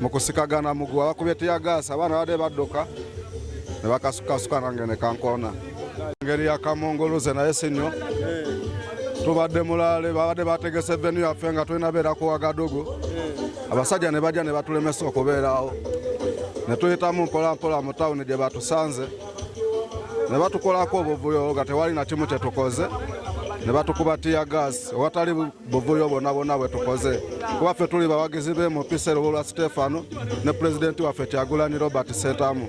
mu kusikagana mugu abakubye tiyagaasi abaana badde badduka ne bakasukasuka nange ne kankoona engeri ya kamunguluze naye si nnyo tubadde mulaale babadde bategese venu yaffe nga tulina beera ku wagadugu abasajja ne bajja ne batulemesa okubeerawo ne tuyitamu mpolampola mu tawuni gye batusanze ne batukolako obuvuyo nga tewali na kimu kye tukoze ne batukuba tiyagaasi owatali buvuyo bwonna bwonna bwe tukoze kuba ffe tuli bawagizi be mu pisa erubulwa siteefano ne pulezidenti waffe kyagulani robert setamu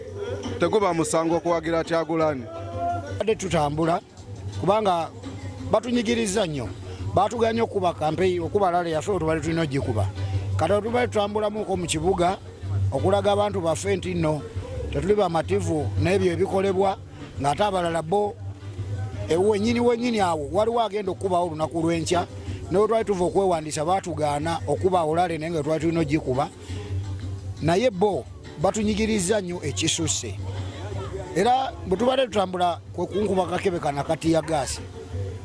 teguba musango okuwagira kyagulani badde tutambula kubanga batunyigiriza nnyo batuganye okukuba kampeyi okuba lale yafe otubali tulina ogikuba kati otubali tutambulamuko mu kibuga okulaga abantu baffe nti nno tetuli bamativu n'ebyo ebikolebwa ng'ate abalala bo ewenyini wenyini awo waliwo agenda okukubawo olunaku lw'enkya naye twali tuva okwewandiisa baatugaana okuba olale naye nga twali tulina ogikuba naye bo batunyigiriza nnyo ekisusse era bwe tubadde tutambula kwe kunkuba kakebe kana kati ya gaasi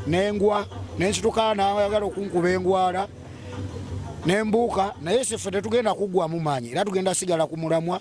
nengwa nensitukaa nayagala okunkuba engwala nembuuka naye siffe tetugenda kuggwamu maanyi era tugenda sigala ku mulamwa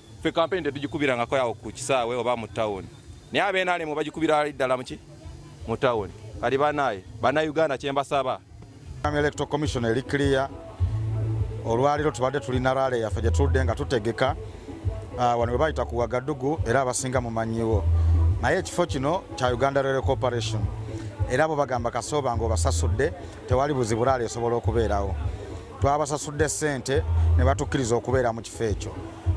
ffe kampeni tetugikubirangako awo ku kisaawe oba mu tawuni naye abenalemu bagikubira ali ddala muki mu tawuni kati banaye banauganda kyembasaba electoral commission eri clear olwaliro tubadde tulina rale yaffe gyetudde nga tutegeka ah, wano webayita ku wagadugu era abasinga mumanyiwo naye ekifo kino kya uganda rale corporation era abo bagamba kasooba nga obasasudde tewali buzibu rale esobola okubeerawo Twabasasudde ssente ne batukkiriza okubeera mu kifo ekyo.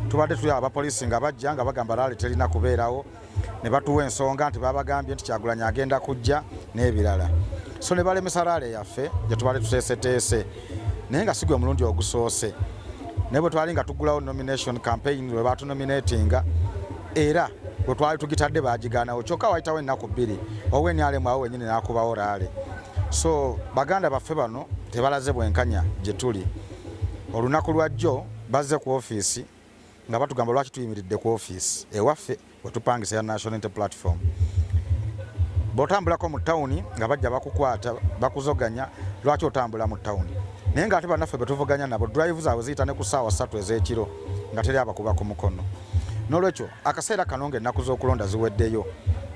Tubadde tuli abapoliisi nga bajja nga bagamba laale terina kubeerawo ne batuwa ensonga nti babagambye nti Kyagulanyi agenda kujja n'ebirala. So ne balemesa laale yaffe gye tubadde tuteeseteese naye nga si gwe mulundi ogusoose. Naye bwe twali nga tugulawo nomination campaign bwe baatunominatinga era bwe twali tugitadde baagigaanawo kyokka waayitawo ennaku bbiri owe nrm awo wenyini n'akubawo laale. so baganda baffe bano tebalaze bwenkanya gye tuli olunaku lwajjo bazze ku ofiisi nga batugamba lwaki tuyimiridde ku ofiisi ewaffe wetupangisa ya national inter platform bwotambulako mu tawuni nga bajja bakukwata bakuzoganya lwaki otambula mu tawuni naye nga ate banaffe betuvuganya nabo drive zaabwe ziyita ne ku saawa satu ez'ekiro nga teri abakuba ku mukono n'olwekyo Akaseera kano ng'ennaku z'okulonda ziweddeyo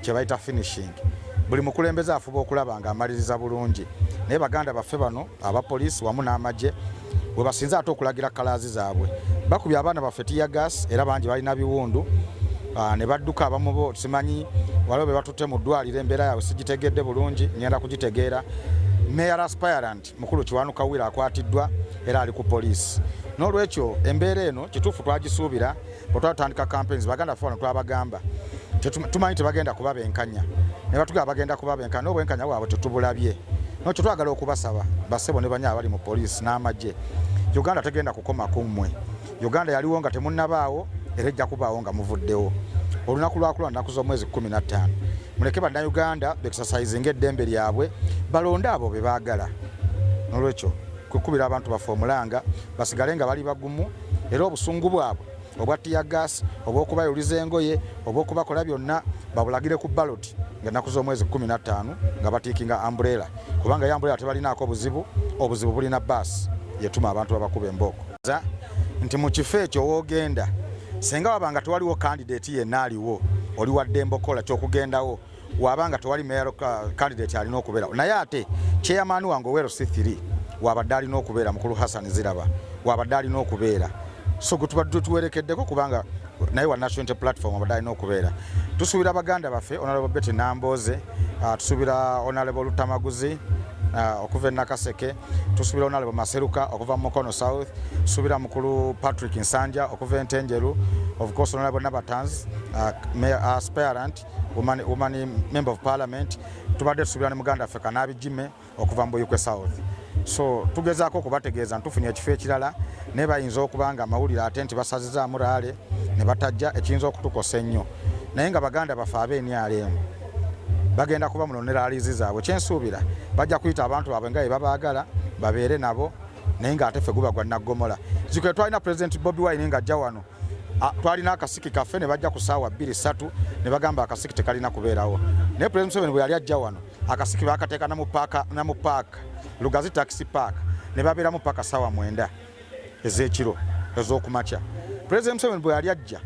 kye bayita finishing buli mukulembeze afuba okulaba ng'amaliriza bulungi naye baganda baffe bano aba poliisi wamu n'amagye we basinze ate okulagira kalaazi zaabwe bakubye abaana baffe tiyagas era bangi balina biwundu ah, ne badduka abamu bo simanyi waliwo be batutte mu ddwaliro embeera yaabwe sigitegedde bulungi ngenda kugitegeera meya raspirant Mukulu Kiwanuka Wira akwatiddwa era ali ku poliisi. N'olwekyo embeera eno kituufu twagisuubira bwe twatandika campaigns baganda ffe bano twabagamba tumanyi tebagenda kuba benkanya ne batugamba bagenda kuba benkanya n'obwenkanya bwabwe tetubulabye nokyo twagala okubasaba basebo ne banya abali mu poliisi n'amagye uganda tegenda kukoma ku mmwe uganda yaliwo nga temunnabaawo era ejja kubaawo nga muvuddewo olunaku lwakula nnaku z'omwezi 15 muleke bannayuganda bekisasayizinga eddembe lyabwe balonde abo be baagala nolwekyo kukubira abantu baffe omulanga basigale nga bali bagumu era obusungu bwabwe obwa tiyagas obwokubayuliza engoye obwokubakola byonna babulagire ku baloti nga naku z'omwezi 15 nga batiikinga ambureela kubanga yo ambureela tebalinaako obuzibu obuzibu bulina baasi yetuma abantu babakuba embooko ategeeza nti mu kifo ekyo w'ogenda senga waba nga tewaliwo kandideti yenna aliwo oli waddembe okukola kyokugendawo waba nga tewali mayor kandideti alina okubeerawo naye ate chairman wange owero c 3 wabadde alina okubeera mukulu hassan ziraba wabadde alina okubeera so gwe tubadde tuwerekeddeko kubanga naye wa National Unity Platform abadde alina okubeera. Tusuubira baganda baffe Honorable Betty Nambooze, uh, tusuubira Honorable Lutamaguzi uh, okuva e Nakaseke, tusuubira Honorable Maseruka okuva mu Mukono South, tusuubira mukulu Patrick Nsanja okuva e Ntenjeru, of course Honorable Nabatanz, uh, Mayor Aspirant, woman, woman Member of Parliament, tubadde tusuubira ne muganda ffe Kanaabi Jimmy. okuva mu buyikwe south so tugezaako okubategeeza ntufunye ekifo ekirala naye bayinza okuba nga amawulire ate nti basazizaamu raale ne batajja ekiyinza okutukosa ennyo naye nga baganda baffe ab'enrm bagenda kuba muno ne laalizi zaabwe kyensuubira bajja kuyita abantu baabwe nga bebabaagala babeere nabo naye nga ate fe guba gwa naggomola zikwe twalina pulezidenti bobi wine nga ajja wano twalina akasiki kaffe ne bajja ku saawa bbiri ssatu ne bagamba akasiki tekalina kubeerawo naye pulezidenti museveni bwe yali ajja wano akasiki bakateeka namu paaka namu paaka lugazi taxi park ne babeeramu paka sawa mwenda ez'ekiro ez'okumakya president museveni bwe yali ajja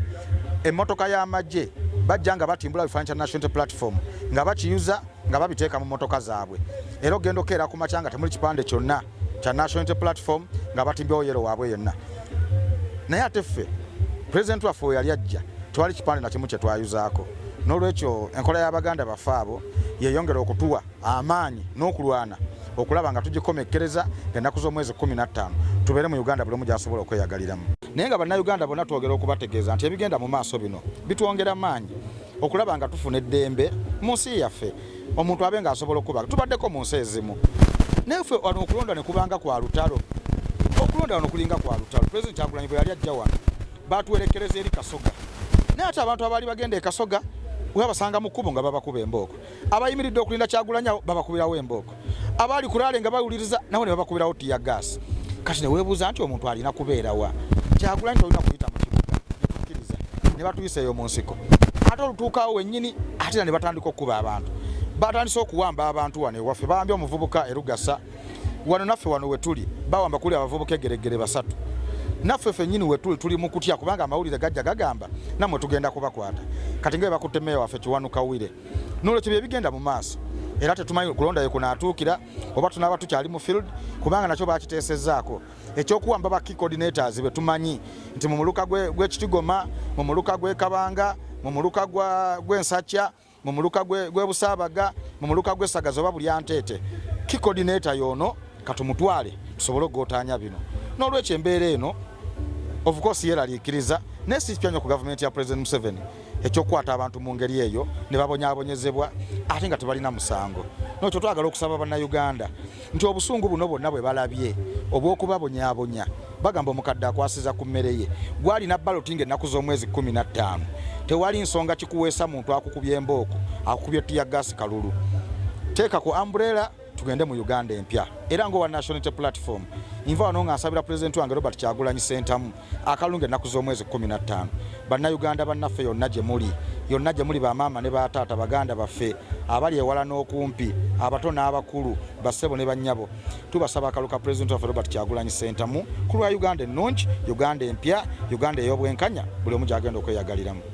emmotoka y'amagye bajja nga batimbula bifaanyi kya national platform nga bakiyuza nga babiteeka mu mmotoka zaabwe era ogenda okeera ku makya nga temuli kipande kyonna kya National Unity Platform nga batimbyewo yero waabwe yenna naye ate ffe pulezidenti waffe we yali ajja twali kipande nakimu kye twayuzaako n'olwekyo enkola y'abaganda baffe abo yeyongera okutuwa amaanyi n'okulwana okulaba nga tugikomekkereza ennaku z'omwezi kumi na ttaano tubeere mu uganda buli omu gy'asobola okweyagaliramu naye nga bannayuganda bonna twogera okubategeeza nti ebigenda mu maaso bino bitwongera maanyi okulaba nga tufuna eddembe mu nsi yaffe omuntu abe nga asobola okukubaga tubaddeko mu nsi ezimu naye ffe wano okulonda ne kubanga kwa lutalo okulonda wano kulinga kwa lutalo pulezidenti kyagulanyi bwe yali ajja wano batuwerekereza eri kasoga naye ate abantu abaali bagenda ekasoga webabasanga mu kkubo nga babakuba embooko abayimiridde okulinda kyagulanyawo babakubirawo embooko abaali ku laale nga bawuliriza nabo ne babakubirawo tiya gaasi kati ne weebuuza nti omuntu alina kubeera wa kyagulanyi tolina kuyita mu kibuga netukkiriza ne batuyisa eyo mu nsiko ate olutuukawo wennyini ate era ne batandika okukuba abantu batandise okuwamba abantu wano ewaffe bawambye omuvubuka erugasa wano naffe wano wetuli bawamba kuli abavubuka egeregere basatu naffe fenyini wetuli tuli mukutya kubanga amawulire gajja gagamba namwe tugenda kubakwata kati nga bebakutte meeya waffe kiwanuka wire N'olwekyo bye bigenda mu maaso era tetumanyi kulonda yekunaatuukira oba tunaaba tukyali mu field kubanga nakyo bakiteesezzaako ekyokuwamba ba key coordinators be tumanyi nti mu muluka gw'ekitigoma mu muluka gw'ekabanga mu muluka gw'ensakya mu muluka gw'ebusaabaga mu muluka gw'essagaza oba buli anteete key coordinator yoono katumutwale tusobole okugotaanya bino n'olwekyo embeera eno of course yeraliikiriza naye sikipya nnyo ku gavumenti ya president museveni ekyokukwata abantu mu ngeri eyo ne babonyabonyezebwa ate nga tebalina musango nokyo twagala okusaba bannayuganda nti obusungu buno bwonna bwe balabye obw'okubabonyabonya bagamba omukadde akwasiza ku mmere ye gwalina baloti nga ennaku z'omwezi kumi na ttaano tewali nsonga kikuweesa muntu akukubye embooko akukubye ttiya gaasi kalulu teeka ku ambureera tugende mu uganda empya era ngaowa nationality platform nva wano nga nsabira pulezidenti wange robert kyagulanyi sentamu akalunga ennaku z'omwezi 15 bannayuganda bannaffe yonna gye muli yonna gye muli bamaama ne bataata baganda baffe abali ewala n'okumpi abato n'abakulu bassebo ne bannyabo tubasaba akalu ka pulezidenti waffe robert kyagulanyi sentamu ku lwa uganda ennungi uganda empya uganda ey'obwenkanya buli omu gy'agenda okweyagaliramu